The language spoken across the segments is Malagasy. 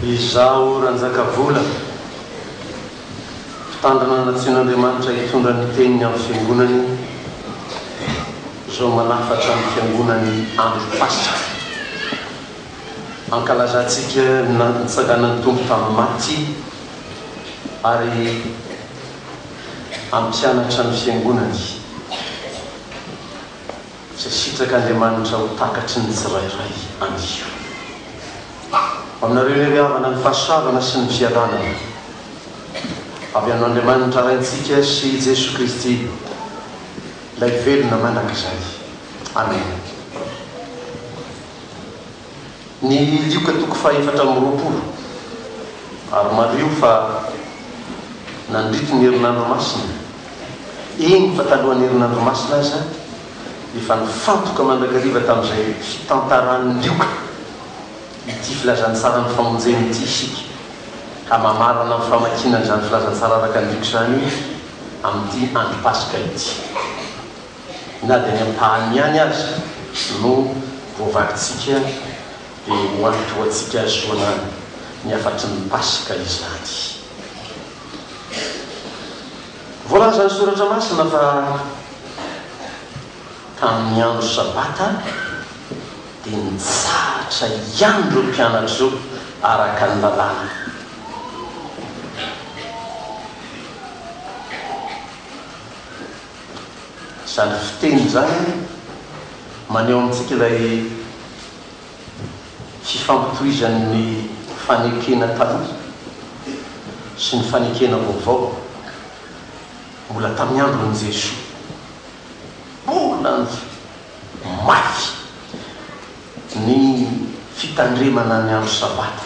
Izaho Ranjakavola, mpitandrina nantsoin'Andriamanitra hitondra ny Teniny amin'ny Fiangonany, izao manafatra ny Fiangonany andro Paska. Ankalazantsika ny nangatsanganan'ny Tompo tamin'ny maty ary hampianatra ny Fiangonany, izay sitrak'Andriamanitra ho takatry ny tsirairay anio. Aminareo indray ry havana ny fahasoavana sy ny fialana avy amin'Andriamanitra Raintsika sy i Jesoa Kristy, Ilay Velona mandrakizay. Amena. Ny Lioka toko fahefatra amby roapolo ary mariho fa nandritry ny Herinandro Masina, eny fa talohan'ny Herinandro Masina aza, efa nifantoka mandrakariva tamin'izay fitantaran'ny Lioka ity filazantsaran'ny famonjeny ity isika. Hamamarana ny famakiana an'izany filazantsara araka ny Lioka izany amin'ity andro Paska ity. na dia ny ampahany ihany aza no voavakintsika dia ho an'ny tohantsika hahazoana ny hafatry ny Paska izany. Voalazan'ny Soratra Masina fa tamin'ny andro Sabata dia nitsahatra ihany ireo mpianatra ireo araka ny lalàna. Izany fiteny izany maneho amintsika ilay fifampitohizan'ny fanekena taloha sy ny fanekena vaovao mbola tamin'ny andron'i Jesoa. Mbola mafy ny fitandremana ny andro Sabata.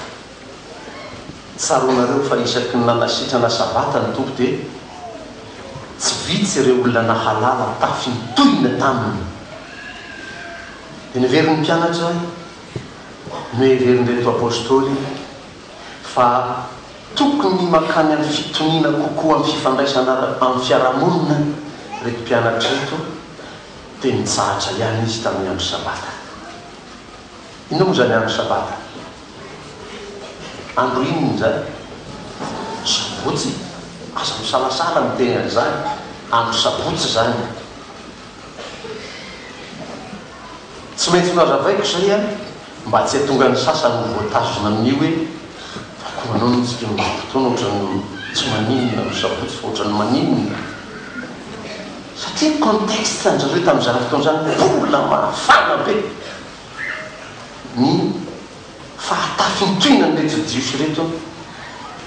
Tsaroanareo fa isaky ny nanasitrana Sabata ny Tompo dia tsy vitsy ireo olona nahalala tafintohina taminy. Dia neverin'ny mpianatra, noheverin'ireto Apostoly fa tokony mankany amin'ny fitoniana kokoa amin'ny fifandraisana amin'ny fiarahamonina ireto mpianatra ireto, dia nitsahatra ihany izy tamin'ny andro Sabata. Inona moa izany andro sabata? Andro inona izany? Sabotsy? Aza misalasala miteny an'izany, andro sabotsy izany e! Tsy maintsy nohazavaiko izay an, mba tsy hahatonga ny sasany ho voatazona amin'ny hoe, fa koa manao ny tsika amin'izao fotoana ohatran'ny tsy maninona ny sabotsy fa ohatran'ny maninona? Satria ny contexte anjareo tamin'izany fotoana izany mbola mafana be ny fahatafintohinan'ireto Jiosy ireto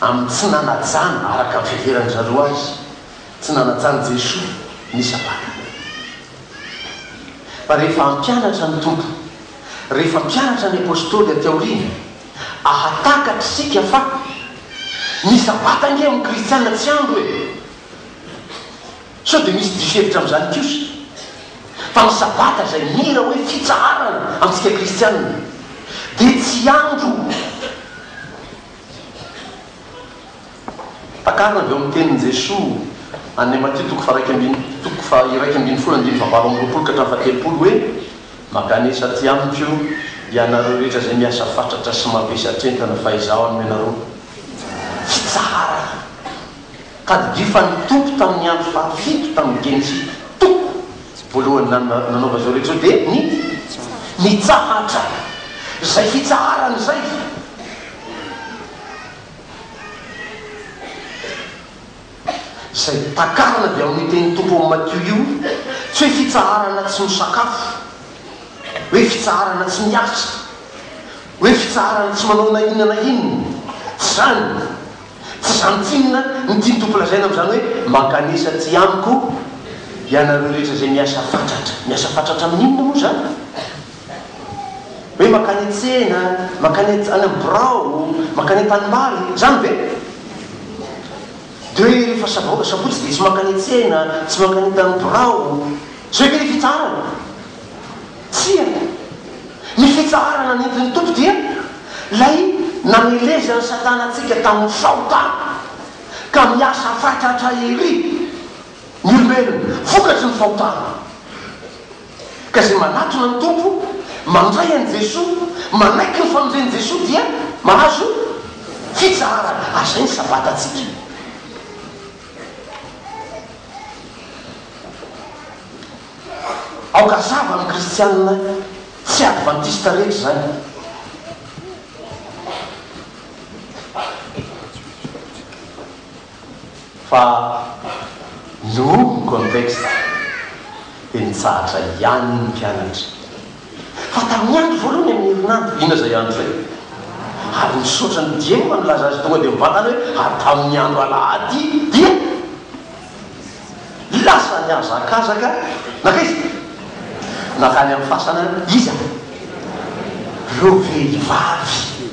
amin'ny tsy nanajana araka ny fiheveran'ny zareo azy, tsy nanajan'i Jesoa ny Sabata. Fa rehefa hampianatra ny Tompo, rehefa hampianatra ny Apostoly aty aoriana, ahatakatra isika fa ny Sabata ange amin'ny Kristiana tsy andro e! Sao dia misy diso hevitra amin'izany kosa fa ny Sabata izay mira hoe fitsaharana amintsika kristianina dia tsy andro takarina avy ao amin'ny tenin'i Jesoa any amin'ny Matio toko faha-iraika ambin'ny toko faha-iraika ambin'ny folo andininy faha-valo amby roapolo ka hatramin'ny faha-telopolo hoe, Makanesa aty amiko ianareo rehetra izay miasa fatratra sy mavesatra entana fa izaho hanome anareo fitsaharana. Tadidifan'ny Tompo tamin'ny andro fahafito tamin'ny Genesisy, Tompo, voalohany nanaova izao rehetra izao dia ny nitsahatra izay fitsaharany izay. Izay takarina avy amin'io tenin'ny Tompo ao amin'ny Matio io, tsy hoe fitsaharana tsy misakafo, hoe fitsaharana tsy miasa, hoe fitsaharana tsy manao na inona na inona, tsy izany, Tsy izany tsinona ny tian'ny Tompo lazaina amin'izany hoe, Mankanesa aty amiko ianareo rehetra izay miasa fatratra. Miasa fatratra amin'ny inona moa izany? Hoe mankany an-tsena, mankany any amin'ny birao, mankany an-tanimbary, izany ve? Dia hoe rehefa sabo, sabotsy dia tsy mankany an-tsena, tsy mankany an-tanimbirao. Izay ve ilay fitsarana? Tsia. Ny fitsaharana nentin'ny Tompo dia ilay namelezan'i Satana antsika tamin'ny fahotana ka miasa fatratra ery ny olombelona vokatry ny fahotana. Ka izay manatona ny Tompo, mandray an'i Jesoa, manaiky ny famonjen'i Jesoa dia mahazo fitsaharana. Ary izay ny Sabatantsika. Aoka hazava amin'ny kristianina tsy advantista rehetra izany. Fa nohomby ny contexte dia nitsahatra ihany ny mpianatra. Fa tamin'ny andro voalohany amin'ny herinandro, inona izay andro izay? Ary misaotra ny DM nilaza azy tonga dia mivantana hoe, ary tamin'ny andro alahady dia. Lasa nihazakazaka nankaiza izy? Nankany amin'ny fasana iza? Ireo vehivavy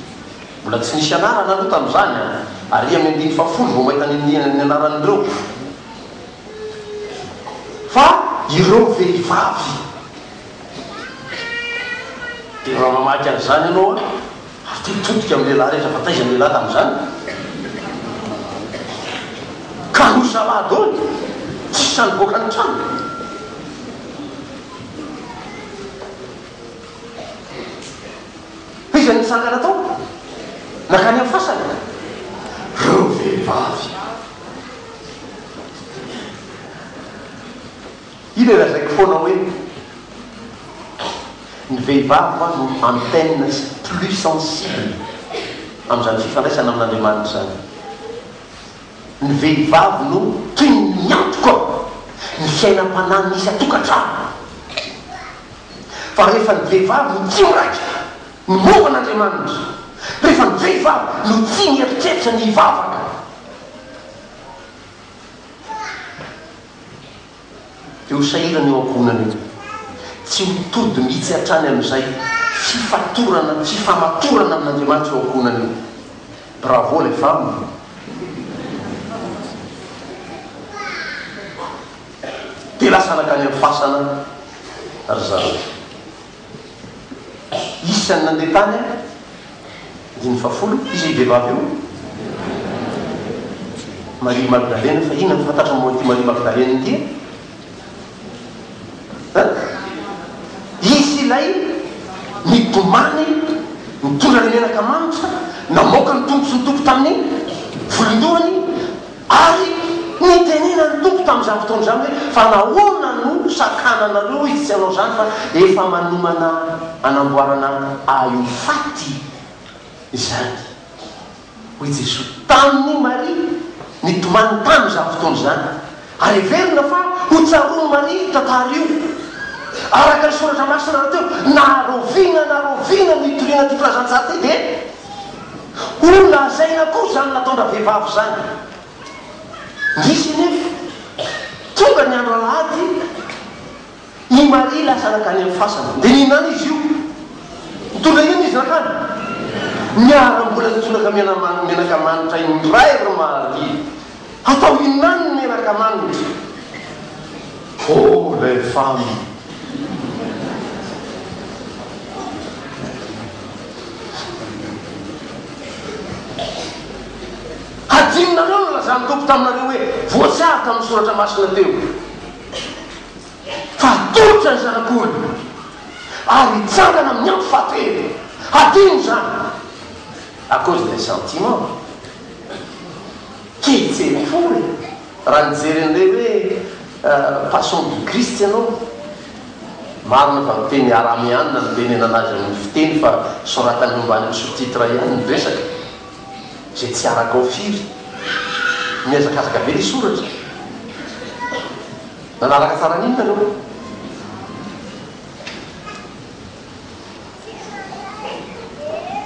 mbola tsy nisy anarana aloha tamin'izany an! Ary amin'ny andininy fahafolo vao mahita ny an'ny anaran'ireo. Fa ireo vehivavy. Dia raha mamaky an'izany ianao an! Ary tia mitodika amin'ny lehilahy rehetra, fa taiza ny lehilahy tamin'izany? Ka hoy zalahy daholo, tsy sahy nivoaka ny trano. Iza no nitsangana tao? Nankany amin'ny fasana? Ireo vehivavy. Io dia lazaiko foana hoe ny vehivavy ho'a no antenne plus sensible amin'izany fifandraisana amin'Andriamanitra izany. Ny vehivavy no tohin'ny antoka ny fiainam-panahin'ny isan-tokantrano. Fa rehefa ny vehivavy no tsy miraika ny momba an'Andriamanitra, rehefa ny vehivavy no tsy mieritreritra ny hivavaka, eo sahirana eo ankohonana eo. Tsy ho tody mihitsy hatrany amin'izay fifatorana, fifamatorana amin'Andriamanitra eo ankohonana eo. Bravo les femmes. Dia lasa nankany amin'ny fasana ry zareo. Isan'ny nandeha tany an, andininy fahafolo, iza io vehivavy io? Maria Magdalena, fa inona no fantatro momba an'ity Maria Magdalena ity e? An? Izy ilay nitomany nitondra ny menaka manitra, namoaka ny tombotsin'ny Tompo tamin'ny volondohany, Ary notenenan'ny Tompo tamin'izany fotoana izany hoe, Fa nahoana no sakananareo izy tsy hanao izany, fa efa manomana hanamboarana Ahy ho faty izany? Hoy Jesoa tamin'i Maria nitomany tamin'izany fotoana izany, ary heverina fa ho tsaroan'i Maria io tantara io, araka ny Soratra Masina rahateo, Na rahoviana na rahoviana no itoriana ity filazantsara ity, dia. Ho lazaina koa izany nataon-dravehivavy izany. Nisy anefa, tonga ny andro alahady, i Maria lasa nankany amin'ny fasana, dia nihinana izy io. Nitondra inona izy nankany? Niharam-bola nitsonaka menaka manitra indray ry Maria. Hatao inona any ny raka manitra? Pauvre femme! Hadinonareo ny lazan'ny Tompo taminareo hoe voatsara tamin'ny soratra masina teo fa hatolotra ny Zanak'olona ary hitsangana amin'ny andro fahatelo. Hadino izany à cause d'un sentiment. Kejiny foana e! Raha nijery an'ilay hoe Passion du Christ ianao, marina fa miteny arameana no tenenana azy amin'ny fiteny fa soratany eo ambanin'ny sous-titre ihany ny resaka, izay tsy arakao firy. Nihazakazaka be ilay soratra. Nanaraka tsara an'iny nareo?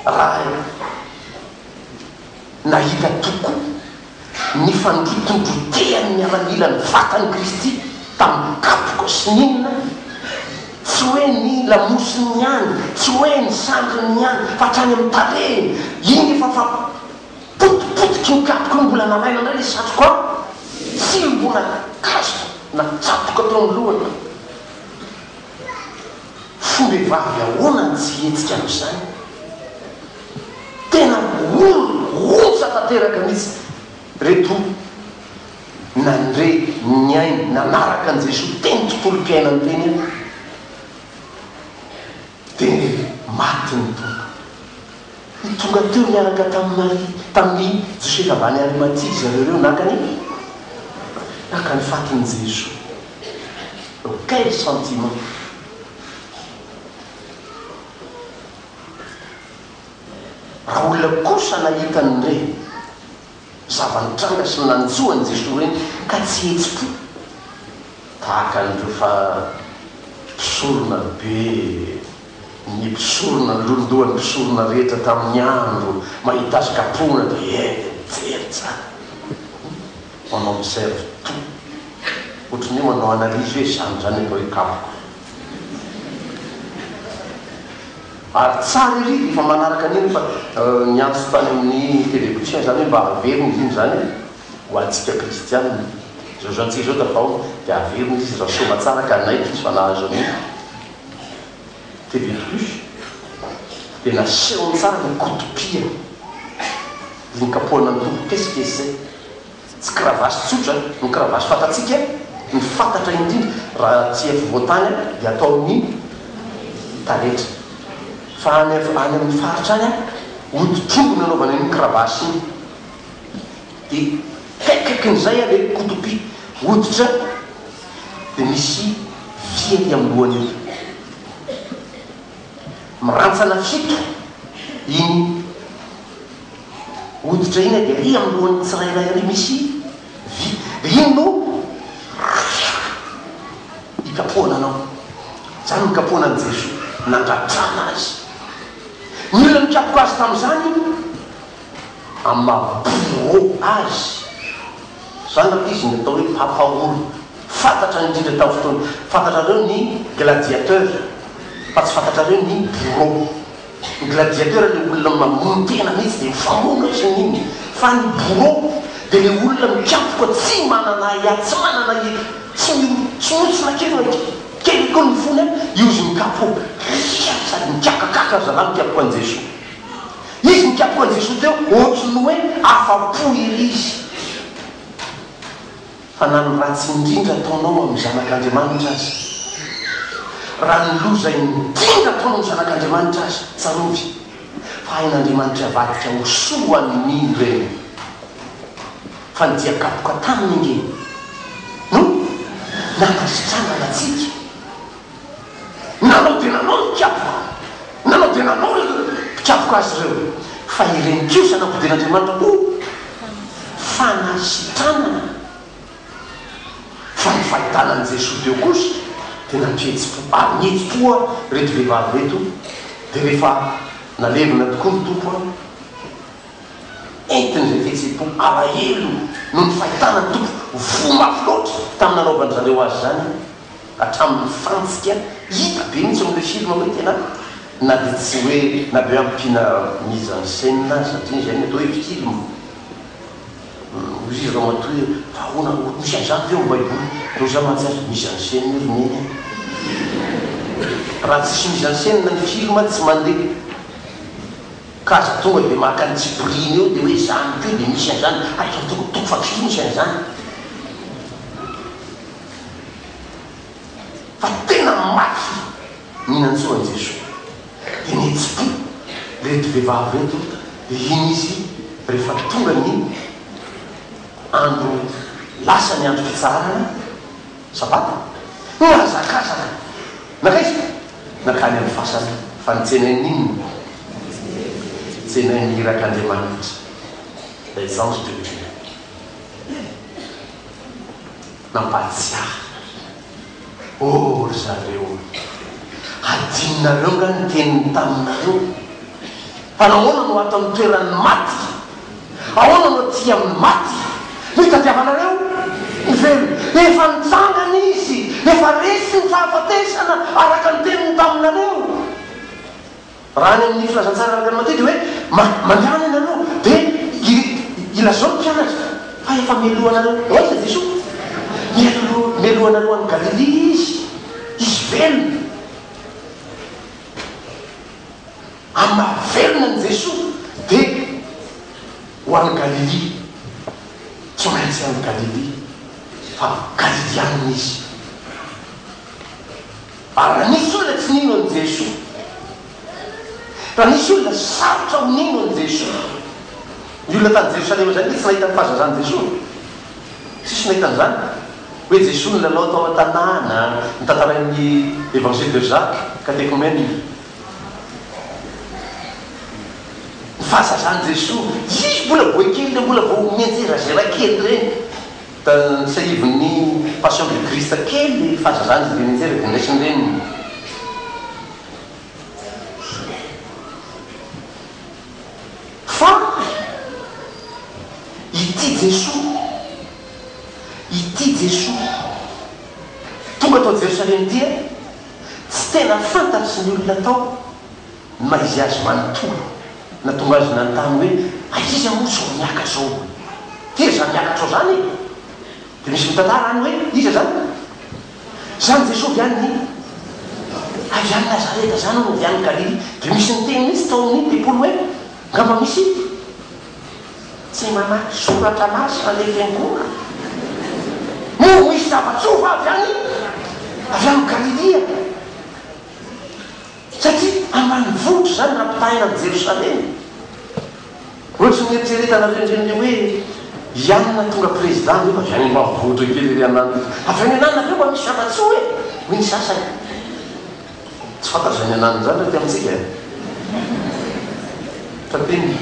Raha. Nahita tokoa ny fandrotondrotehan'ny miaramila ny vatan'i Kristy tamin'ny kapoka sy ny inona, tsy hoe ny lamosiny ihany, tsy hoe ny sandriny ihany, fa hatrany amin'ny tarehiny. Iny efa fa potipotiky ny kapoka no mbola nalaina indray ilay satroka an! Tsimbon'ankazo natsatoka teo amin'ny lohany. Fombevavy ahoana no tsy hihetsika amin'izany? Tena mirohosa tanteraka mihitsy reto nandre, niaina, nanaraka an'i Jesoa teny tontolom-piainany teny an, dia maty ny Tompo. I tonga teo niaraka tamin'i Maria, tamin'i Josefa avy any Arimatia izareo ireo naka ny, naka ny fatin'i Jesoa. Quel sentiment! Raha olona kosa nahita an'ireny zava-nitranga sy nanjo an'i Jesoa ireny ka tsy hetsi-po, tahaka an'ireo fa mpisorona be ny mpisorona niloloha ny mpisorona rehetra tamin'ny andro mahita azy kapohina dia eny dia mijery tsara, manao observe tout, ohatran'ny hoe manao analyse hoe izany izany aloha ikapoka. Ary tsara ery rehefa manaraka an'iny fa niantso tany amin'ny télévision izany hoe mba averina izy iny izany hoe ho antsika kristianina izao izao antsika izao tafahona dia averina izy raha soa aman-tsara ka hanaiky izy fa nahazo an'io TV plus dia nasehony tsara ny koto-pia iny kapohana ny tobim-pihetsika izy izay Tsy cravache tsotra no cravache fantatsika, ny fantatra indrindra raha tsy afovoan-tany dia atao amin'ny taretra, fa any amin'ny faritra any hoditr'omby no anaovana iny cravache iny, dia kaikaikin'izay ilay kotopi hoditra dia misy vy aty amin'ny lohany aty. Mirantsana fito iny hoditra iny dia ery amin'ny lohan'ny tsirairay ery misy vy dia iny no ikapohana anao. Izany no nikapohana an'i Jesoa, nandratrana Azy. Ny olona nikapoka Azy tamin'izany amin'ny maha bourreau Azy. Izany raha ilay izy ny atao hoe Papa Ory. Fantatra indrindra tamin'ny fotoana fantatrareo ny gladiateur fa tsy fantatrareo ny bourreau. Ny gladiateur ilay olona mamono tena mihitsy dia mifamono ohatran'ny inona fa ny bourreau dia ilay olona mikapoka tsy manana ahiahy, tsy manana i, tsy mihontsona kely na kely koa ny fony an, io izy mikapoka, ria! sady mikakakaka ry zalahy mikapoka an'i Jesoa. Izy nikapoka an'i Jesoa teo ohatran'ny hoe afa-po ery izy. Fa na ny ratsy indrindra ataonao amin'ny zanak'Andriamanitra aza, raha ny loza indrindra ataonao amin'ny zanak'Andriamanitra aza, tsarovy fa hain'Andriamanitra avadika ho soa ny ireny. Fa ny dia kapoka taminy ange no nankasitranana antsika. Nanao dia nanao ny mpikapoka, nanao dia nanao ireo mpikapoka azy ireo, fa ireny kosa nampidirin'Andriamanitra ho fanasitranana, fa ny fahitana an'i Jesoa teo kosa dia nampihetsi-po, ary nihetsi-po ary ireto vehivavy ireto, dia rehefa nalevina tokoa ny Tompo an, entin'izay fihetsem-po alahelo noho ny fahitana ny Tompo voa mafy loatra tamin'ny nanaovan-dry zareo azy izany. hatramin'ny fantsika, hita be mihitsy amin'ilay film hoe tena na dia tsy hoe na dia hoe ampiana mise en scène aza satria izay no atao hoe film, hoy izy ramatoa hoe fa ahoana ohatry misy an'izany ve ao amin'ny baiboly, raha izaho mantsy aza mise en scène io ry neny a! raha tsisy mise en scène ny film tsy mandeha ka aza tonga dia maka ny tsipiriany eo dia hoe izany koa dia misy an'izany, hay fa tokony tokony fa film izay an'izany. fa tena mafy ny nantsoan'i Jesoa dia nitsiky ireto vehivavy ireto dia iny izy rehefa tonga ny andro lasa ny andro fitsaharana sabata nihazakazaka nankaiza? nankany amin'ny fasana fa nitsenay ny inona? nitsenay ny irak'Andriamanitra les anges de Dieu Nampahatsiahy nareo. Oh ry zareo ry. Hadinonareo nga ny teniny taminareo? Fa nahoana no ato amin'ny toeran'ny maty? Ahoana no aty amin'ny maty? Nitadiavanareo ny velona. Efa nitsangana Izy. Efa resy ny fahafatesana araka ny teniny taminareo. Raha any amin'ny filazantsara araka ny matetika hoe ma mandehana ianareo dia i ilazao ny mpianatra fa efa melohanareo aiza Jesoa? Melo melohanareo any Galilia Izy, Izy velona. Amin'ny maha velona an'i Jesoa dia ho any Galilia. Tsy maintsy any Galilia fa Galiliana Izy. Ary raha nisy olona tsy nino an'i Jesoa, raha nisy olona sarotra ho nino an'i Jesoa, ny olona tany Jerosalema izany dia tsy nahita ny fahazazan'i Jesoa e! Tsisy nahita an'izany hoe Jesoa nilalao tao an-tanàna, notantarain'ny Evangile de Jacques, Catéchumène, ny fahazazan'i Jesoa. Izy mbola boay kely ireny, mbola vao mianjerazera kely ireny. Tamin'ny tsiahivin'ny Passion du Christ kely fahazazany dia nianjera dia niraisin'ny reniny. Fa ity Jesoa, ity Jesoa tonga tao Jerosalema ity, tsy tena fantatry ny olona tao ny maha izy azy manontolo nahatonga azy nanontany hoe aiza izy moa izao miakatra izao? Tena izany miakatra izao izany e! Dia misy mitantara any hoe iza izany? Izany Jesoa avy any ny avy any Nazareta izany hono avy any Galilia. Dia misy niteny mihitsy tao amin'ny tempoly hoe angamba misy ity tsy mamaky soratra masina le fiangonana? Moa misy zava-tsoa va avy any avy any Galilia? Satria ambanivohitra izany raha ampitahaina amin'i Jerosalema. Ohatry ny eritreretana avy any ny hoe i Anna tonga prezida nefa avy any ambanivohitra kely ery an'Anna. Avy any an'Anna ve mba misy zava-tsoa e? hoy ny sasany. Tsy fantatr'izay any an'Anna izany raha ety amintsika e! Tapenina.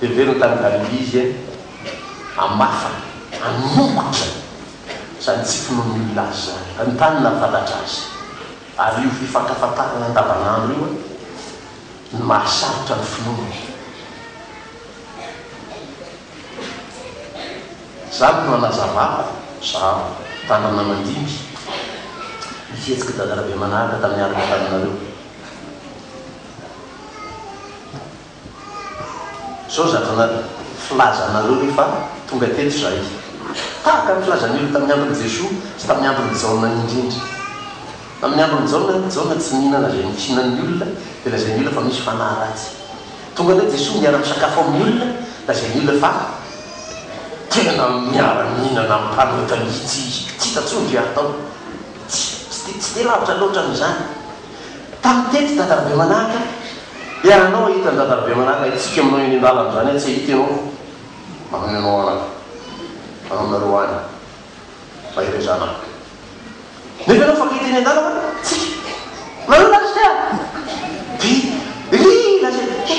Heveriny tany Galilia izy eny hamafana, hamongotra izany tsy finoan'ny olona azy izany, hanontany na fantatra azy. Ary io fifankafantarana andavanandro io no mahasarotra ny finoana. Izany no hanazavako izaho, mpitandrina mandimby, ny fihetsik'i Dada Rabemanaraka tamin'ny alina taminareo. Zao zandrina filaza anareo ve fa tonga teto zahay. Tahaka ny filazan'ny olona tamin'ny andron'i Jesoa sy tamin'ny andron'i Jaona ny indrindra. Tamin'ny andron'i Jaona, Jaona tsy nihina na zay nohinan'ny olona dia lazain'ny olona fa misy fanahy ratsy. Tonga indray Jesoa miara misakafo amin'ny olona, lazain'ny olona fa tena miara mihinana amin'ny mpanota mihitsy izy. Tsy hita intsony ve ary tao? Tsy, tsy dia lavitra loatra amin'izany. Tany teto Dadan'i Bemanaka dia anao hahita an'i Dadan'i Bemanaka hitsiky aminao eny an-dalana izany aho tsy hahita ianao mankany anao any mankany aminareo any mahery zanaka nefa ianao efa hita eny an-dalana hitsiky nareo lasitra dia iry lasitra dia he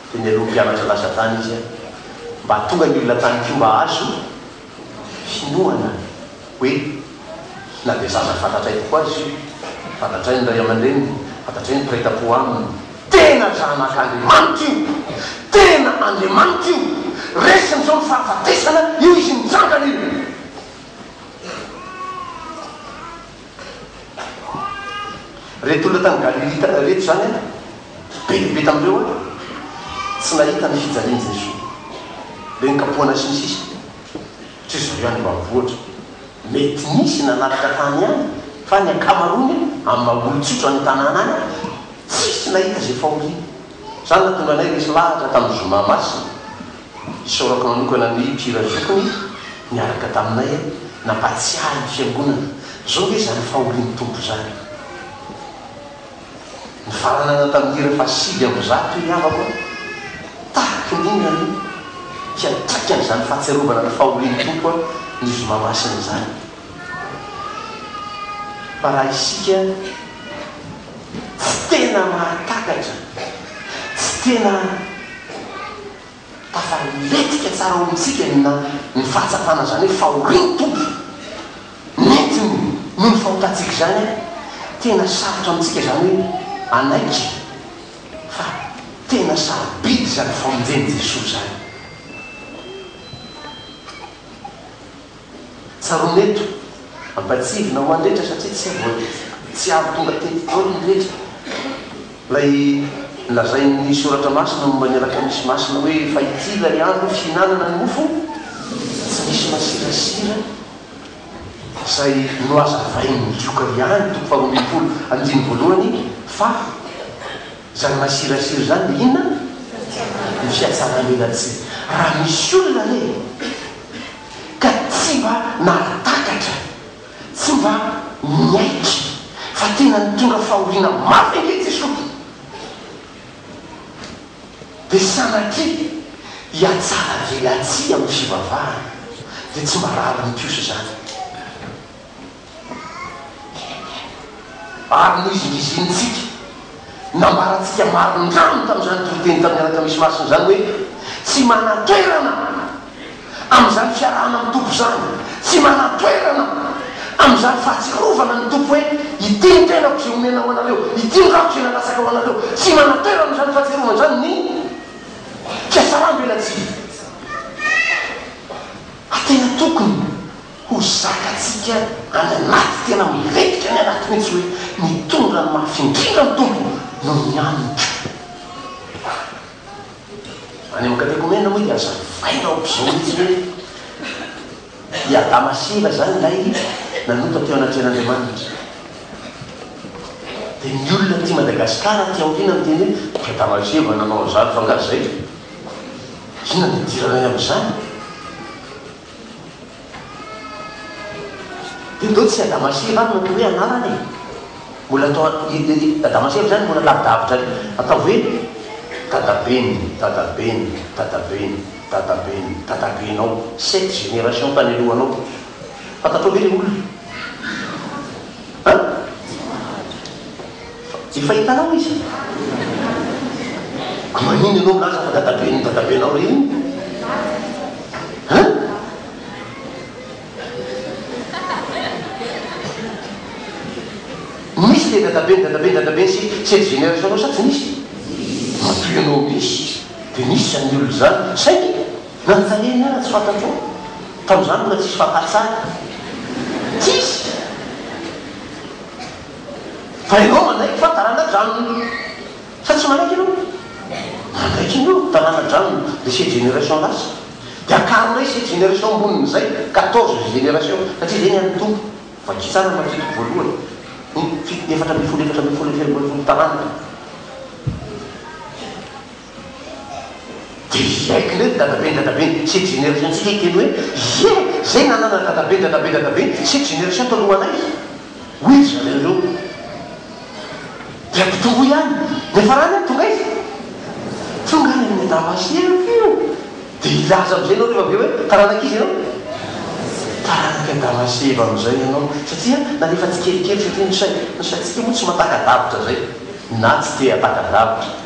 Dia nialoha mpianatra lasa tany izy an! Mba tonga ny olona tany koa mba azo hinoana hoe na dia zaza fantatray tokoa aza io, fantatray ny ray aman-dreniny, fantatray ny mpiray tam-po aminy. Tena zanak'Andriamanitra io! Tena Andriamanitra io! Resiny izao ny fahafatesana, io izy mitsangana io! Reto olona tany Galilia tany reto izany an, be dia be tamin'ireo an, tsy nahita ny fijalian'i Jesoa, be nokapohana sy ny sisa Tsy izao ihany no ampy ohatra, mety nisy nanaraka tany ihany fa ny ankamaroany an, amin'ny maha olon-tsotra any an-tanàna any an, tsisy nahita izay fahoriana. Izany nahatonga anay resy lahatra tamin'ny Zoma Masina. Isaorako manokana ny mpihira zokiny niaraka taminay nampahatsiahy ny fiangonana. Zao nge zany fahorian'ny Tompo zany. Nifaranana tamin'ny hira faha sivy amby zato ny havako an. Tahaky ny inona no hiantraikan'izany fahatsiarovana ny fahorian'ny Tompo an ny zoma masina izany. Fa raha isika tsy tena mahatakatra, tsy tena tafaletika tsara ao amintsika ny na ny fahatsapana izany hoe fahorian'ny Tompo nentiny noho ny fahotantsika izany, tena sarotra amintsika izany hoe hanaiky fa tena sarobidy izany famonjen'i Jesoa izany. Tsaroana eto, ampatsivina ho an'ny rehetra satria tsy voa, tsy avy tonga tety daholo ny rehetra, ilay nolazain'ny Soratra Masina momba ny Alakamisy Masina hoe, fa ity ilay andro fihinanana ny mofo tsy misy masirasira izay nohazavain'ny Lioka ihany, toko faharoa ambin'ny folo, andininy voalohany, fa izany masirasira izany dia inona? Ny fihatsaran'elatsihy. Raha misy olona anie. ka tsy mba nahatakatra, tsy mba niaiky fa tena nitondra fahoriana mafy ange Jesosy, dia sanatria hiatsaravelatsihy amin'ny fivavahana, dia tsy mba rariny kosa izany. Ary nohizinizinintsika, nambarantsika marindrano tamin'izany toriteny tamin'ny Alakamisy Masina izany hoe, Tsy manan-toerana amin'izany fiarahana amin'ny Tompo izany, tsy manan-toerana amin'izany fahatsiarovana ny Tompo hoe, Ity ny tenako izay omena ho anareo, ity ny rako izay nalatsaka ho anareo, tsy manan-toerana amin'izany fahatsiarovana izany ny fihatsarambelatsihy. A Tena tokony. Ho zakatsika any anaty tena milentika any anaty mihitsy hoe ny tonga ny mafy indrindra ny Tompo noho ny hanitra. Any amin'ny katekomena moa dia aza mivaina aoka izao mihitsy hoe i Adama sy Eva izany ilay nanota teo anatrehan'Andriamanitra. Dia ny olona aty Madagascar aty aoriana miteny hoe i Adama sy Eva nanao an'izany fa angaha izay? Inona no idiranay amin'izany? Io ve tsy Adamaseva ary no atao hoe anarana e? Mbola atao Adamaseva izany mbola lavidavitra re? Ataovy hoe Dadaben'ny Dadaben'ny Dadaben'ny Dadaben'ny Dadabenao, sept générations tany alohanao. Fantatrao ve ilay olona? An? Efa hitanao izy? Ka manino ianao milaza fa dadaben'ny dadabenao re iny? Hein? Nisy le dadaben'ny dadaben'ny dadaben'ny sy sy ex génération anao sa tsy nisy? Matoa ianao misy izy dia nisy izany olona izany saingy nanontaniany aho raha tsy fantatrao. Tamin'izany mbola tsisy fakantsary. Tsisy! Fa ianao manaiky fa taranadranony. Sa tsy manaiky ianao? Manaiky ianao ny taranadranony, dia sept générations lasa. Dia akaronay sept générations ambonin'izay, quatorze générations, satria izay ny an'ny Tompo. Vakio tsara ny Matthieu toko voalohany. Ny fito, efatra ambin'ny folo, efatra ambin'ny folo, efatra ambin'ny folo taranaka. Dia Jack Lee, dadaben-dadabe sy jenerasiontsika hiteny hoe, Ie, izay nanana dadaben-dadaben-dadabe sy jenerasion talohanay, hoy ry zareo ireo, dia mpitovo ihany. Ny farany ary tonga aiza? Tonga any amin'ny Damaseko io. Dia hilaza amin'izay ianao rehefa avy eo hoe, Taranak'iza ianao? Taranak'i Damaseko amin'izay ianao. Satria nalefa tsikelikely, satria ny sain-tsika moa tsy mahataka-davitra izay, na tsy te-hataka-davitra.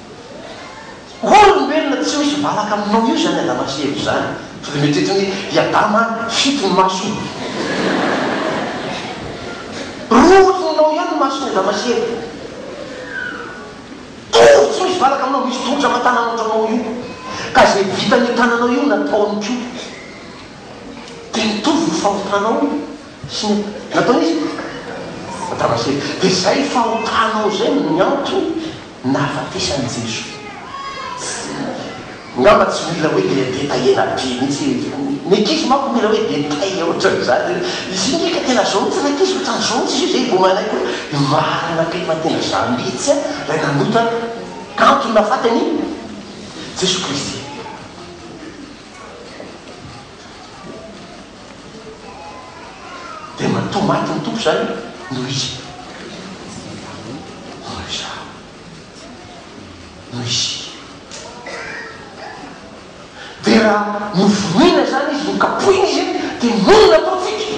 Hoy ny olombelona, Tsy misy valaka aminao io izany Adama sy Eva izany, fa dia mety ho toy i Adama fito ny masony. Roa ohatry ny nao ihany ny mason'i Adama sy Eva. Tory tsy misy valaka aminao, misy tongotra fa tanana ohatry anao io, ka izay vitan'io tananao io no nataony koa. Dia nitovy ny fahotanao sy ny nataon'iza? Adama sy Eva. Dia izay fahotanao izay no niantony. Nahafatesan'i Jesoa. Ngamba tsy mila hoe le détailler ela be mihitsy e. Ny ankizy manko mila hoe détail ohatran'izany hoe izy io ndreka tena zao mihitsy ilay ankizy ohatran'ny zao mihitsy izy io zay vao manaiky hoe ny marina be fa tena za mihitsy a ilay nanota kanto nahafaty an'i Jesoa Kristy. Dia matoa maty ny Tompo izany noho izy. Hoy izaho, noho izy. Dia raha novonoina izany izy, nokapohina izy, dia monina profita.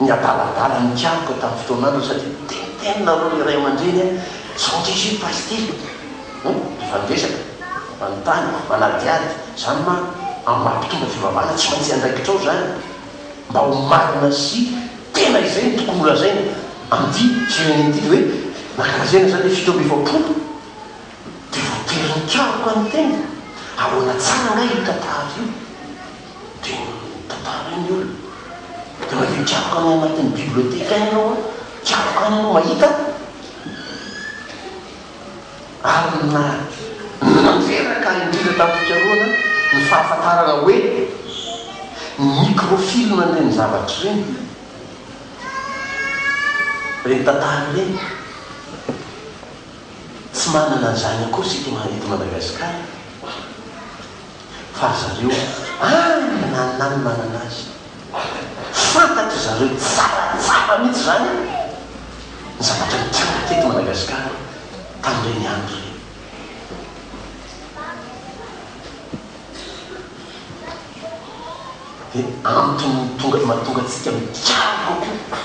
Ny adaladala nikaroka tamin'ny fotoanan'ireo satria tenitenina aloha ilay ray aman-dreny a! Sao diso io pasty a! Efa niresaka, manontany, manadihady, izany ma hampitombo fivavahana? Tsy maintsy andraikitra ao izany mba ho marina sy tena izay no tokony holazaina amin'ity firenena ity dia hoe nankalazaina izany ilay fito amby efapolo dia voatery nikaroka ny tena? Ahoana tsara angaha io tantara io? dia mitantara ny olona. Dia avy eo tiako any anatin'ny biblioteka any ianao an, tiako any ianao mahita an. Ary na nanteraka indrindra tamin'ny fikarohana ny fahafantarana hoe ny microfilm an'ireny zavatra ireny, ireny tantara ireny. Tsy manana an'izany akory isika eto Madagasikara. fa ry zareo any nanana ny manana azy. Fantatry zareo tsara tsara mihitsy izany ny zavatra nitranga teto Madagasikara tamin'ireny andro ireny. Dia antony mahatonga antsika mikiaroka koa.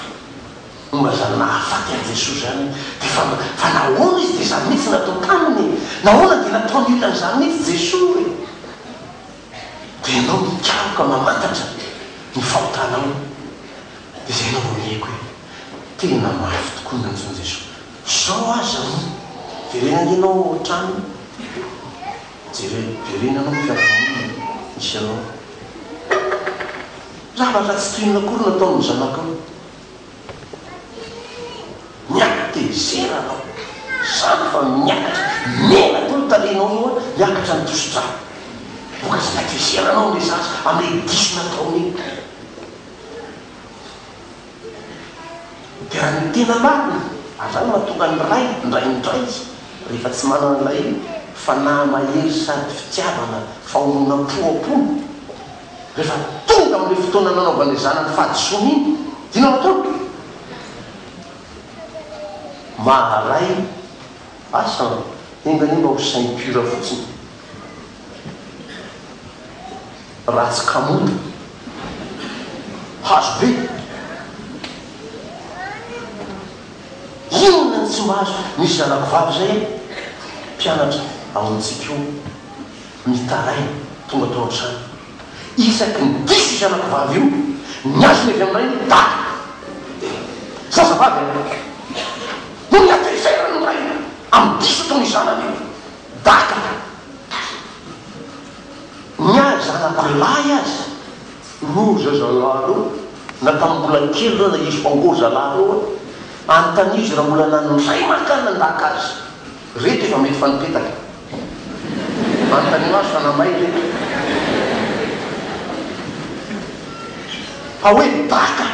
Momba izany nahafaty an'i Jesoa izany dia fa fa nahoana izy dia izany mihitsy natao taminy e? Nahoana dia nataon'ny olona an'izany mihitsy Jesoa e? Dia ianao mikaroka mamantatra ny fahotanao dia izay no amonieko hoe tena mafy tokoa ny nantsoin'i Jesoa. Izao aza moa verena ange ianao ao an-trano jere verena ianao ny fiaraha-monina misy anao. Zavatra tsy toy inona akory no ataon'ny zanakao. Miakatra tezera anao. Sampy fa miakatra. Mena koa ny tarehinao eo an, hiakatra ny tosi-dra. Vokatry ny hatezeranao ny zaza amin'ilay diso nataony iny. Dia ny tena marina, an'izany no mahatonga ny ray indray indray rehefa tsy manana an'ilay fanahy mahery sady fitiavana, fahononam-po am-pony. Rehefa tonga amin'ilay fotoana nanaovan'ilay zanany fahadisoana iny, dia nanao ataovy ve? Maharay asa an! Enga anie mba ho saint pur fotsiny. Ratsy kamoda. Hazo be. Inona no tsy mahazo? Misy zanakivavy izay mpianatra ao amintsika ao. Mitaraina, tonga tao an-trano. Isaky ny diso io zanako vavy io, ny azony avy amin'ny rainy daty. Eh! Zazavavy an! Noho ny hatezeran'ny rainy amin'ny diso ataon'io zanany io, daty an! Ny ahy zanako lahy aza, ro zazalahy ro, na tamin'ny mbola kely ro na izy fa ô zalahy ro an! Anontanizo raha mbola nanindray mankany nandaka azy. Reto efa mety fa nipetaka. Anontaniana azy fa namay ve. Fa hoe baka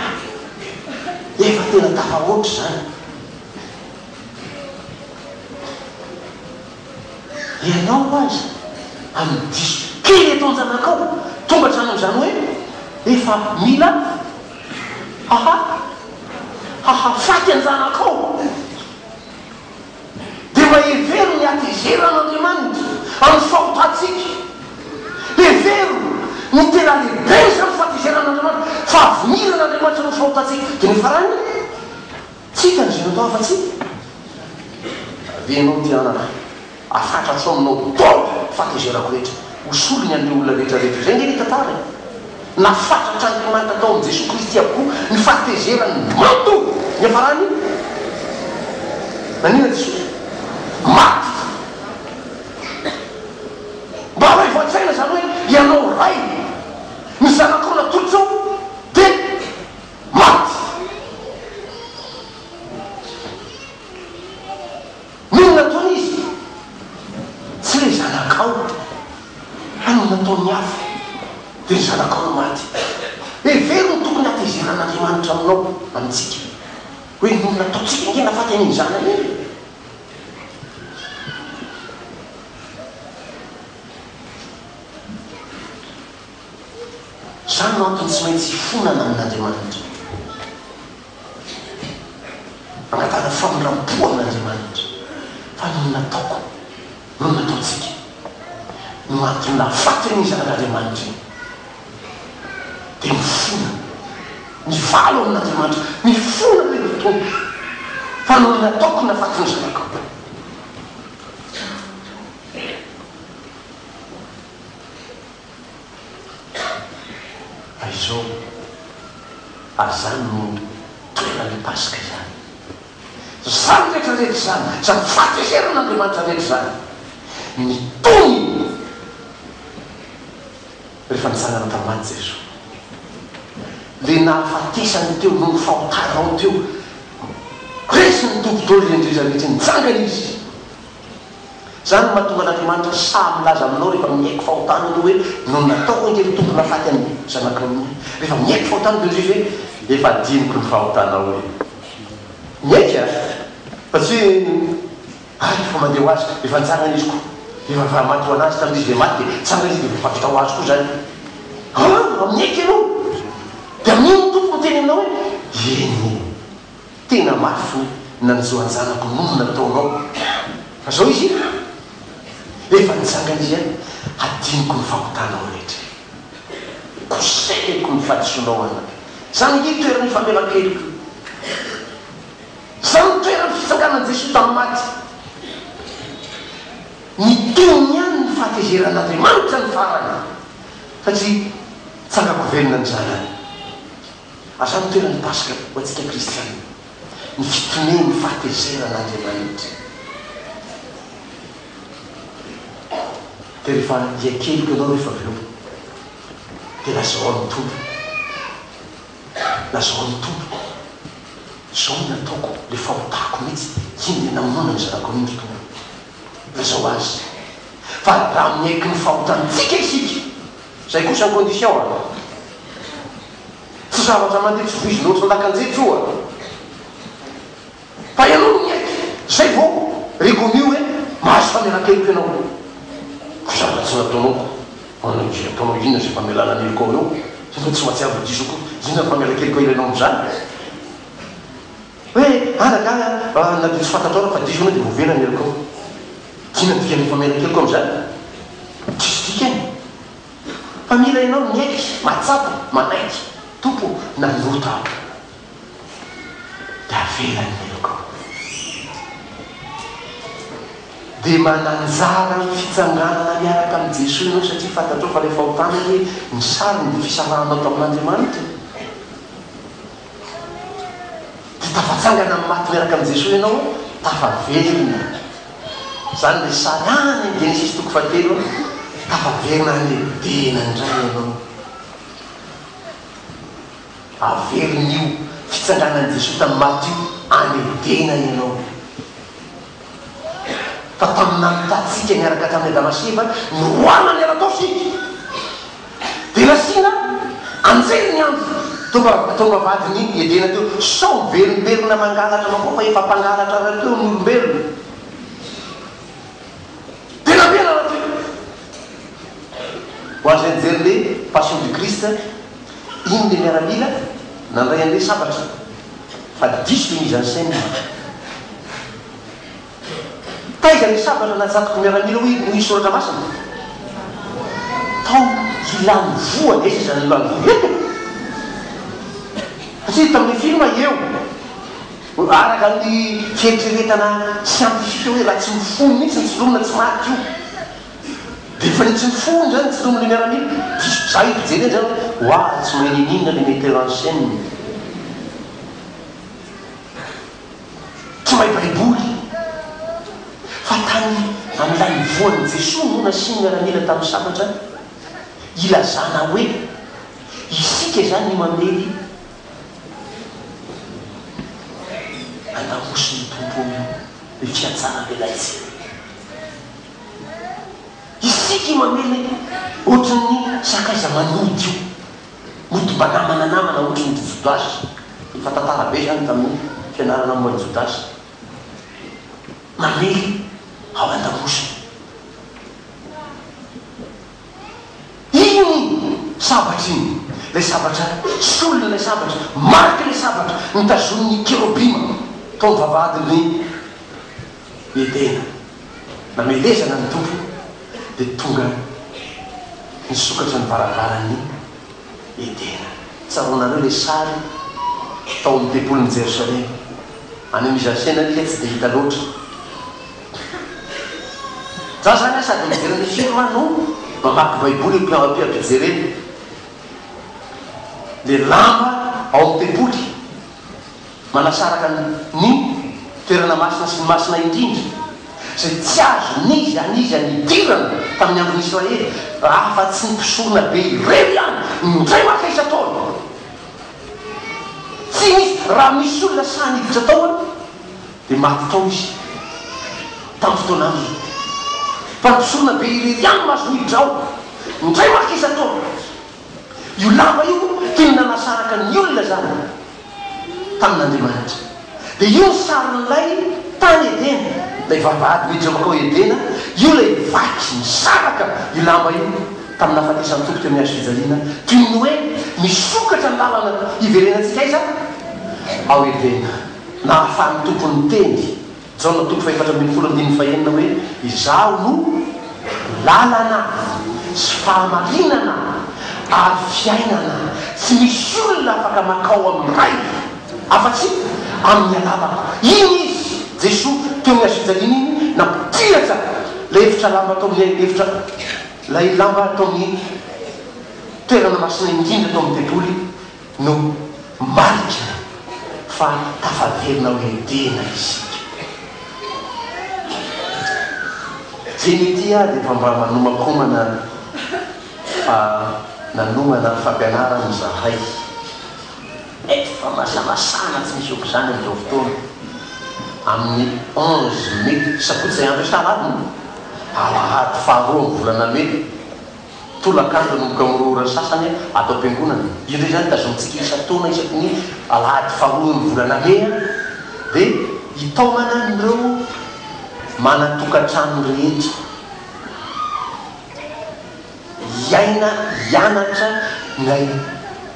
efa tena tafahoatra izany. Ianao aza amin'ny diso kely eto an-janakao tonga hatrany amin'izany hoe efa mila haha hahafaty an-janakao. dia mba hevero ny hatezeran'Andriamanitra amin'ny fahotantsika. Hevero ny tena lehiben'izany fatezeran'Andriamanitra, fahaviniran'Andriamanitra amin'ny fahotantsika. Dia ny farany, tsy hitan'izy ireo tao afa-tsy. Raha ve ianao tia anaka, afatratrao aminao daholo ny fahatezerako rehetra, hosoriny an'ireo olona rehetra rehetra. Izay ange ilay tantara e! Nafatràtr'Andriamanitra tao amin'i Jesoa Kristy avokoa ny fahatezerany mato niafaràny. Naniana Jesoa maty mba haivo an-tsaina izany hoe ianao Ray, ny zanakao natolotrao dia maty. Moa nataony izy? Tsy ilay zanakao, fa ny nataon'ny hafa, dia ny zanakao no maty. Hevero ny tokony hatezeran'Andriamanitra aminao, amintsika, hoe ny olona ataontsika ange nahafaty an'iny zanany iny. Izany no antony tsy maintsy hifonana amin'Andriamanitra. Angatahana famindram-po amin'Andriamanitra fa ny nataoko no nataontsika. Ny mahatonga nahafaty an'iny Zanak'Andriamanitra iny dia mifona, mivalo amin'Andriamanitra, mifona be ny Tompo fa noho ny nataoko no nahafaty ny Zanako. Aizao ary izany no toeran'ny Paska izany. Izany rehetra rehetra izany, izany fateheran'Andriamanitra rehetra izany, nitony rehefa nitsangana tamin'ny maty Jesoa. Ilay nahafatesany teo noho ny fahotanao teo, resin'ny Tompo Daholo Indrindra rehetra, nitsangana Izy. Izany no mahatonga an'Andriamanitra sahy milaza aminao rehefa miaiky fahotana ianao hoe, Noho ny nataoko ange ny Tompo nahafaty an'i zanakao ny ahy. Rehefa miaiky fahotana dia hoy Jesosy hoe, Efa hadinoko ny fahotanao e. Miaiky a! Fa tsy hoe, Hay efa mandeha ho azy, efa nitsangana izy koa. Efa nivaro-maty ho an'azy tamin'izy ilay maty dia nitsangana izy dia efa vita ho azy koa izany. Aa! Miaiky ianao dia amin'iny ny Tompo miteny aminao hoe, Eny e. Tena mafy hoe nanjo an-janako noho ny nataonao. Fa zao izy e! Efa nitsangana izy an! Hadinoko ny fahotanao rehetra e! Kosehiko ny fahadisoanao an! Zany ange toeran'ny ifamelan-keloko e! Zany ny toeran'ny fitsanganan'i Jesoa tamin'ny maty! Ny tohiny ihany ny fahatezeran'Andriamanitra ny farany, satria tsangako velona ny Zanany. Asa no tenan'ny Paska ho antsika kristiana? Ny fitonian'ny fahatezeran'Andriamanitra. Dia rehefa hiakeloka ianao rehefa avy eo, dia lazao amin'ny Tompo, lazao amin'ny Tompo, izao no nataoko, ilay fahotako mihitsy, iny ilay namonoana ny zanako iny ry Tompo. Lazao Azy. Fa raha miaiky ny fahotantsika isika, Zay kosa ny condition a! Tsy zavatra mandeha tsy voizinao tsy ndakan-jejo io a! Fa ianao no miaiky, zay vao reconnu hoe mahazo famelan-keloka ianao. Koa zavatra tsy nataonao ko, manao izay ataonao inona izay famelana ny helokao anao? Ianao tsy mahatsiaro ho diso akory, inona ny famelan-keloka ilainao amin'izany? Hoe ary angaha mba nadiso fantatrao raha fa diso ianao dia ovena ny helokao? Inona no dikan'ny efa mela keloka amin'izany? Diso dikany fa mila ianao miaiky, mahatsapa, manaiky, Tompo ô, nanota aho dia avela ny helokao. Dia mananjara amin'ny fitsanganana miaraka amin'i Jesoa ianao satria fantatrao fa ilay fahotana hoe ny sariny dia fisarahanao tamin'Andriamanitra. Hita fa tsangana amin'ny maty miaraka amin'i Jesoa ianao, tafaverina. Izany ilay sarahana eny Genesisy toko fahatelo, tafaverina any Edena indray ianao. Averin'io fitsanganan'i Jesoa tamin'ny maty io any Edena ianao. fa tamin'ny nahitantsika niaraka tamin'i Adama sy Eva niroahana ny ala tao isika, dia nasiana anjely ny andro tonga tao amin'ny vavahadin'i Edena teo, sao miverimberina mangalatra anao koa fa efa mpangalatra rahateo ny olombelona. Dia nampianarina teo, ho an'izay nijery ny Passion du Christ, Iny ilay miaramila nandray an'ilay sabatra fa diso i Mizan Sen. Taiza ilay sabatra najadoko miaramila hoy hoy ny soratra masina? Tao hilan'ny voa aiza izany hilan'ny voa eto? Satria tamin'ny film eo araka ny fieritreretana siantifika hoe raha tsy mifono mihitsy ny solonina tsy maty io. Dia efa etsy ny fony izany ny filohan'ilay miaramila. Diso zah i Rejely zany hoe ho avy tsy mahay nininona ilay metteur en scène. Tsy mahay baiboly. Fa tany amin'ny lanivoan'i Jesoa no nasian'ny miaramila tamin'ny sabatra ilazana hoe isika izany ny mamely an'Ahosin'ny Tompo io, ny fiantsaran'ny Laitsy. Isika io mamely ohatran'ny sakaiza manody io, mody mba namana namana ohatran'ny ry Jodasy, efa tantara be izany tamin'ny fianarana momba an'i Jodasy, mamely ao an-damosiny. Iny sabatra iny, ilay sabatra solona, ilay sabatra mariky ilay sabatra nitazonin'ny kerobima tao amin'ny vavahadin'ny. ny tena. Namelezana ny Tompo dia tonga nisokatra ny varavaran'ny Edena. Tsaroanareo ilay sary tao amin'ny tempolin'i Jerosalema. Any amin'ny mise en scène ary ilay tsy dia hita loatra. Za zany an sady mijery ny film no mamaky baiboly io ampijerena le lamba ao amin'ny tempoly. Manasaraka ny toerana masina sy ny masina indrindra, izay tsy azo n'iza n'iza nidirana tamin'ny andron'i Israely, raha fa tsy ny mpisorona be irery ihany, indray maka isan-taona. Tsy nisy, raha misy olona sahy niditra tao an, dia maty tao izy, tamin'ny fotoana andro izao. Fa ny mpisorona be irery ihany no azo niditra ao, indray maka isan-taona. Io lamba io toy ny nanasaraka ny olona izany tamin'Andriamanitra. Dia io ny sarin'ilay tany Edena, ilay vavahady mijoroka ao Edena, io ilay vaky nisaraka io lamba io tamin'ny nahafatesan'ny Tompo teo amin'ny hazo fijaliana, toy ny hoe nisokatra ny lalana hiverenantsika aiza? Ao Edena. Nahafahan'ny Tompo niteny Jaona toko fahefatra ambin'ny folo andininy fahenina hoe, Izaho no lalana sy fahamarinana ary fiainana, tsy misy olona afaka makao amin'ny Ray afa-tsy amin'ny alalako. Iny Izy, Jesoa, teo amin'ny hazofijaliana iny, nampihatra ilay efitra lamba tao amin'ny efitra, ilay lamba tao amin'ny toerana masina indrindra tao amin'ny tempoly, No marika fa tafaverina ho Edena isika. Dieny ity aho dia efa mba manomakomana fa nanomana fampianarana izahay. Mety fa masamasana tsy misy ohatr'izany amin'izao fotoana. Amin'ny onze mai, sabotsy izay andro isan-alahady moa? Alahady faharoa amin'ny volana mai. Tolakandro ny mikaorohoro sasany ato am-piangonana. Indray izany tazonintsika isan-taona isaky ny alahady faharoan'ny volana mey dia hitaomana an'ireo manan-tokantrano rehetra hiaina, hianatra ny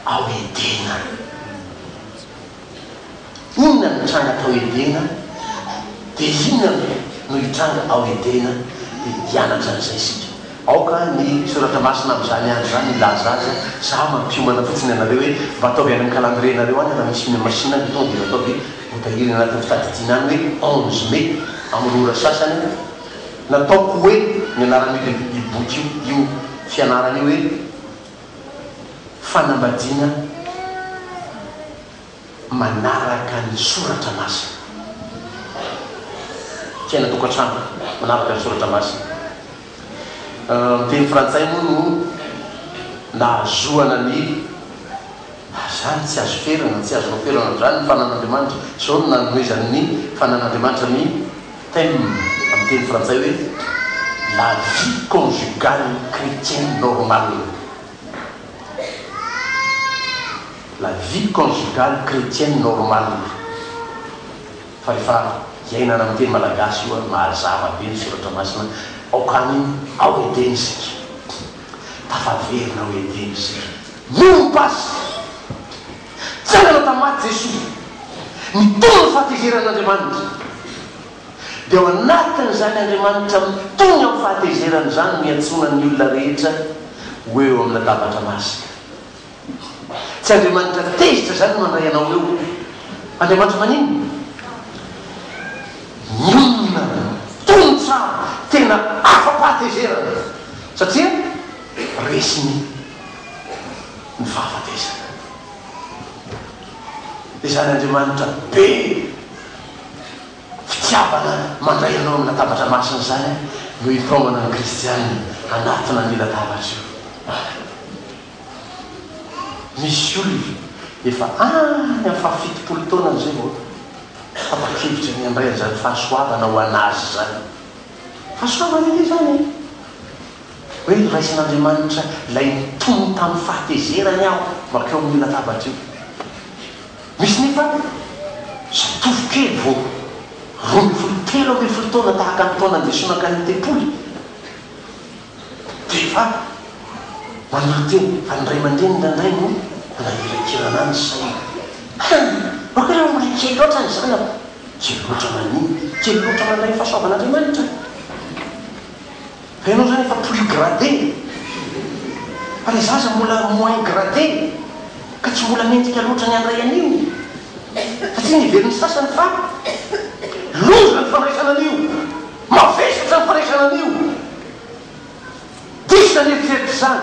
ao Edena. Inona no nitranga tao Edena, dia inona no hitranga ao Edena? Dia hianatra an'izay isika. Aoka ny Soratra Masina amin'izany andro izany hilaza azy, Izaho mampiomana fotsiny anareo hoe mba ataovy any amin'ny kalandrienareo any raha misy Mai Masina ny fotoana, dia ataovy ho tahiry anatin'ny fitadidiana any hoe onze mai, amin'ny ora sasany. Nataoko hoe ny anaran'io boky io, io fianarana io hoe. fanambadiana manaraka ny soratra masina. Fiainan-tokantrano manaraka ny soratra masina. Ny teny frantsay moa no nahazoana ny Azany tsy azo ferana, tsy azonao ferana amin'izany ny fananan'Andriamanitra, izao no nanomezan'ny fananan'Andriamanitra ny. Thème, amin'ny teny frantsay hoe La vie conjugale chrétienne normale La vie conjugale chrétienne normale Fa rehefa iainana amin'ny teny malagasy io ary mahazava be ny soratra masina Aoka any ao Edena isika Tafaverina ao Edena isika Miompy azy! Tsara na tamaty Jesoa, ny tony ny fahatezeran'Andriamanitra. Dia ao anatin'izany Andriamanitra mitony amin'ny fahatezerany izany no iantsoana ny olona rehetra ho eo amin'ny latabatra masina. Tsy Andriamanitra tezitra izany no mandray anao eo. Andriamanitra maninona? Mionona, tony tsara, tena afa-pahatezerana satria resiny. ny fahafatesana. Izany Andriamanitra be fitiavana mandray anao amin'ny latabatra masina izany no hipaomana ny kristiana hanatona an'io latabatra io. Misy olona efa any amin'ny fahafitopolo taonany izay vao tapa-kevitra ny handray an'izany fahasoavana ho an'azy izany. Fahasoavana ange izany e! Hoe noraisin'Andriamanitra ilay nitony tamin'ny fahatezerany aho mankeo amin'io latabatra io. Misy nefa zatovo kely vao roa ambin'ny folo, telo ambin'ny folo taona tahaka ny taona ndeso nankany an-tempoly dia efa manolo-tena fa ny ray aman-dreniny indraindray no manangiran-kirana ny sainy. Hany! Aoka ilay olona kely loatra ny zanako! Kely loatra manino? Kely loatra mandray ny fahasoavan'Andriamanitra? Fa ianao izany efa plus gradé fa ilay zaza mbola moins gradé ka tsy mbola mendrika loatra ny handray an'io satria nivelon'ny sasany fa loza ny fandraisana an'io, mavesatra ny fandraisana an'io. Diso ny eritreritra izany.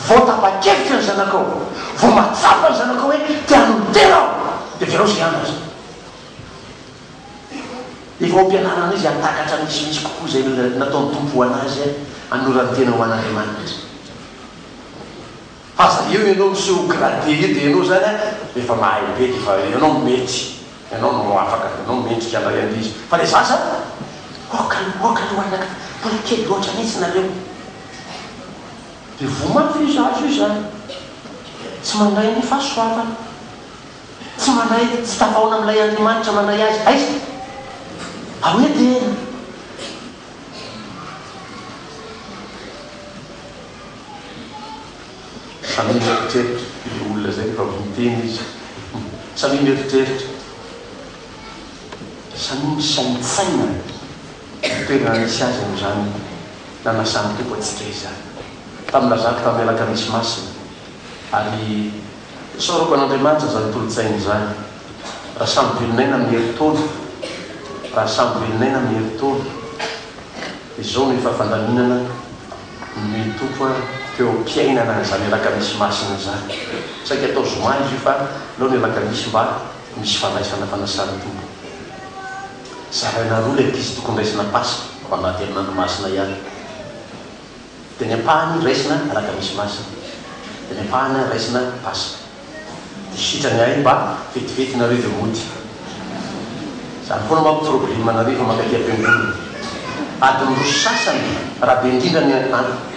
Vao tapa-kevitra ny zanakao, vao mahatsapa ny zanakao hoe te hanolo-tena aho dia avelao izay andro aza. Efa ao am-pianarana izy hahatakatra ny misimisy kokoa izay nataon'ny Tompo ho an'azy hanorany tena ho an'Andriamanitra. Fa aza eo ianao miseho ho gradé eo dia ianao izany efa mahay be dia efa ianao mety, ianao no afaka, ianao mendrika handray an'ilay izy. Fa ilay zaza aoka aloha, aoka aloha anaka, mbola kely loatra mihitsy nareo. Dia voa mafy io zaza io izany, tsy mandray ny fahasoavana. Tsy manahy, tsy tafahoana amin'ilay Andriamanitra manahy azy. Aiza? Ao Edena. Samia mieritreritra io olona izay rehefa avy niteny izy. Samia mieritreritra. Samia misaintsaina ny toerana nisy azy amin'izany nanasan'ny Tompo antsika izany. Tamin'ny lazako tamin'ny Alakamisy Masina, ary. Sorovan'Andriamanitra izany kolontsaina izany. Raha samy velon'aina amin'ny herintaona, raha samy velon'aina amin'ny herintaona, izao no efa fandaminana ny Tompo an, teo am-piainana an'izany alakamisy masina izany. Saika atao zoma izy io fa aleo ny alakamisy mba misy fandraisana fanasan'ny Tompo. Zaraina roa ilay ankizy tokony raisina Paska, ao anaty herinandro masina ihany. Dia ny ampahany raisina alakamisy masina. Dia ny ampahany raisina paska. Dia sitrany ahy mba vetivety nareo dia mody. Izany foana manko probleme anareo efa mankaty am-piangonana. Adiny roa sy sasany raha be indrindra ny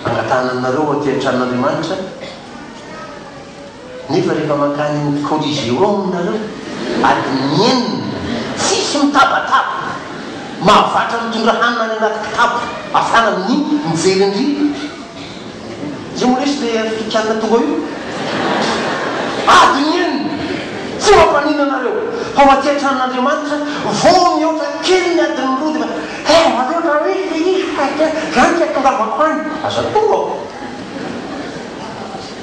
angatahana anareo aty an-tranon'Andriamanitra. Nefa rehefa mankany amin'ny Coliseum nareo, adin'ny enina, tsisy mitabataba, mahavatra mitondra hanina any anaty kitapo afana amin'ny mijery an-dry. Izay moa lesy le afrikana tonga io? Adin'ny enina, tsy mampanina anareo, fa ho aty an-tranon'Andriamanitra, vao mihoatra kely ny adin'ny roa dia efa, eh aleo raha misy le izy fa zany tsy atongavako any. Aza atongavao.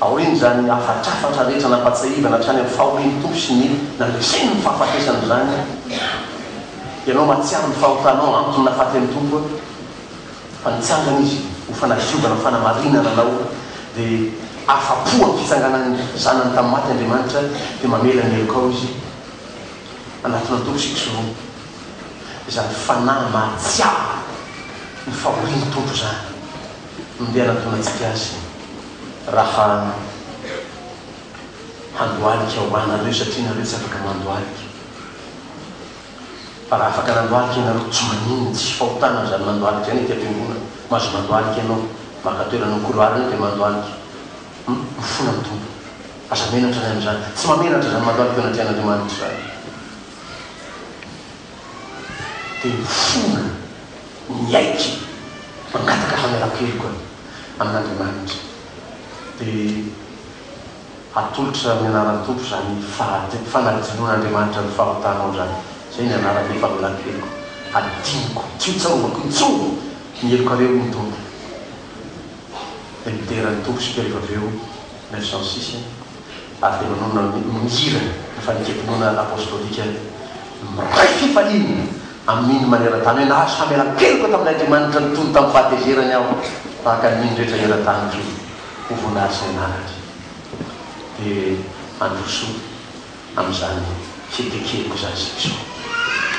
Aorian'izany hafatrafatra rehetra nampatsiahivana hatrany amin'ny fahorian'ny Tompo sy ny nandresen'ny fahafatesany izany, ianao mahatsiaro ny fahotanao antony nahafaty an'ny Tompo fa nitsangana Izy ho fanadiovana, ho fanamarinana anao dia afa-po amin'ny fitsanganan'ny Zanany tamin'ny maty Andriamanitra dia mamela ny helokao Izy. Anatona ny Tompo isika soromby izany fanahy mahatsiaro ny fahorian'ny Tompo izany no ndeha hanantonantsika Azy. Raha handohalika ho anareo satria nareo tsy afaka mandohalika. Fa raha afaka nandohalika ianareo tsy maninona, tsisy fahotana aza ny mandohalika any aty am-piangonana. Mahazo mandohalika ianao, maka toerana amin'ny couloir any dia mandohalika. Hum, mifona ny Tompo. Aza menatra ny amin'izany. Tsy mahamenatra izany mandohalika eo anatrehan'Andriamanitra izany. Dia mifona. miaiky mangataka famelan-keloka amin'Andriamanitra, dia hatolotra amin'ny anaran'ny Tompo izany fahadi- fanadinoan'Andriamanitra ny fahotanao izany. Izay ny anarako hoe famelan-keloka, hadinoko, tsy ho tsarovako intsony ny helokareo hoy ny Tompo. Dia midera ny Tompo isika rehefa avy eo, neuf cent six. Ampinonoana ny hira ny fanekempinoana apostolika miray fifaliana amin'iny maneran-tany hoe, Nahazo famelan-keloka tamin'Andriamanitra nitony tamin'ny fahatezerany aho, tahaka ny iny rehetra eran-tany koa, ho voninahitry ny anarany. Dia handroso amin'izany fihetseham-po izany Jesoa.